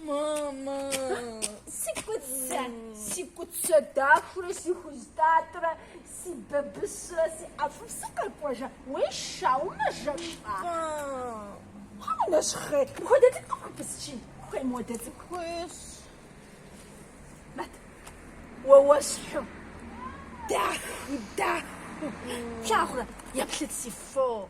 Мамэ, си куцэ, си куцэ дахурэ, си хузтатырэ, си бабысрэ, си ӏэфӏыпсыр къэкӏуэжа, уей шаумэ жэщӏа. Хьэмэ, нэщхъей, мыхуэдэ цӏыкӏу къыпхупысчи, хуей мыхуэдэ цӏыкӏу. Хуейщ. Мэт, уэ уэсхьу, даху, даху, плъагъурэ, еплъыт си фо.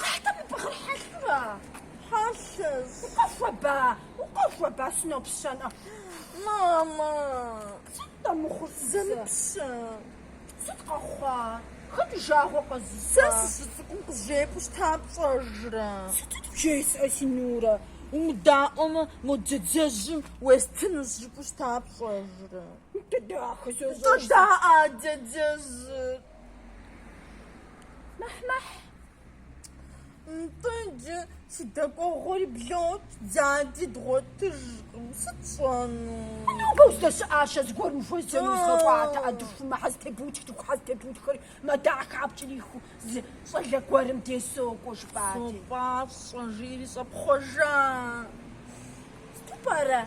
Къахь тӏэ мы бгъыр хьэлъурэ? Хьэлъэщ. Укъэхуэба, укъэхуэба, сынопщэнӏэ. Мамэ. Сыт тӏэ мыхъур сызэмыпщэ? Сыт къэхъуа? Хэт уи жагъуэ къэзыщӏа? Сэ сыщыцӏыкӏум къызжепӏэу щыта пщӏэжрэ? Сытыт пжесӏэ, си Нурэ? Умыдаӏуэмэ, мо дядяжьым уестынущ жыпӏэу щыта пщӏэжрэ? Нтӏэ дахэ, сощӏэж. Нтӏэ даӏэ, дядяжьыр. Мыхьмыхь, нтӏэ иджы си дэкӏуэгъуэри блокӏ, дяди дгъуэтыжкъым, сыт сщӏэну? Нобэ уздэщыӏащэ зыгуэрым ухуэзэну узгъэкӏуатэ ӏэдыхумэ хьэлтебутхт, хьэлтебутхэри мадагъ хапкӏэрихыу зы щӏалэ гуэрым дей сокӏуэ жыпӏати. Сопӏащӏэ, жиӏэри щӏэпхъуэжа. Сыту пӏэрэ,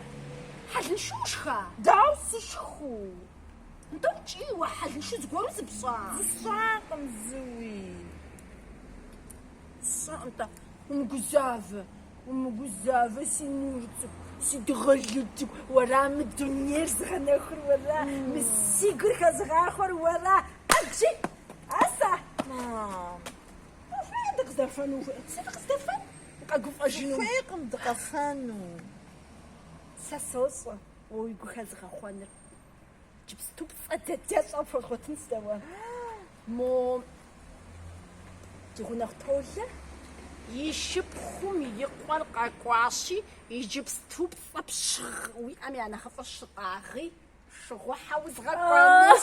хьэлыншэу ушха? Дауэ сышхэу? Нтӏэ ткӏий, уэ хьэлыншэу зыгуэру зыпщӏа? Зысщӏакъым зыуи. Сщӏэ, нтӏэ. Умыгузавэ, умыгузавэ, си нур цӏыкӏу, си дыгъэлу цӏыкӏу, уэра мы дунейр зыгъэнэхур, уэра мы си гур хэзыгъахъуэр, уэра абджы, асэ. Мам. Ухуейкъым дыкъыздэфэну, ухуей. Сэ дыкъыздэфэн? Къэгуфӏэжыну. Ухуейкъым дыкъэфэну. Сэ сощӏэ уэ уи гу хэзыгъэхъуэнур. Иджыпступцӏэ дядящӏэ пхуэзгъуэтын сэ уэ. Мо ди гъунэгъу Толэ и шыпхъум и къуэр къэкӏуащи, иджыпступцӏэ пщыгъ уиӏэм я нэхъыфӏыр щытӏагъи, шыгъухьэ узгъэкӏуэнущ.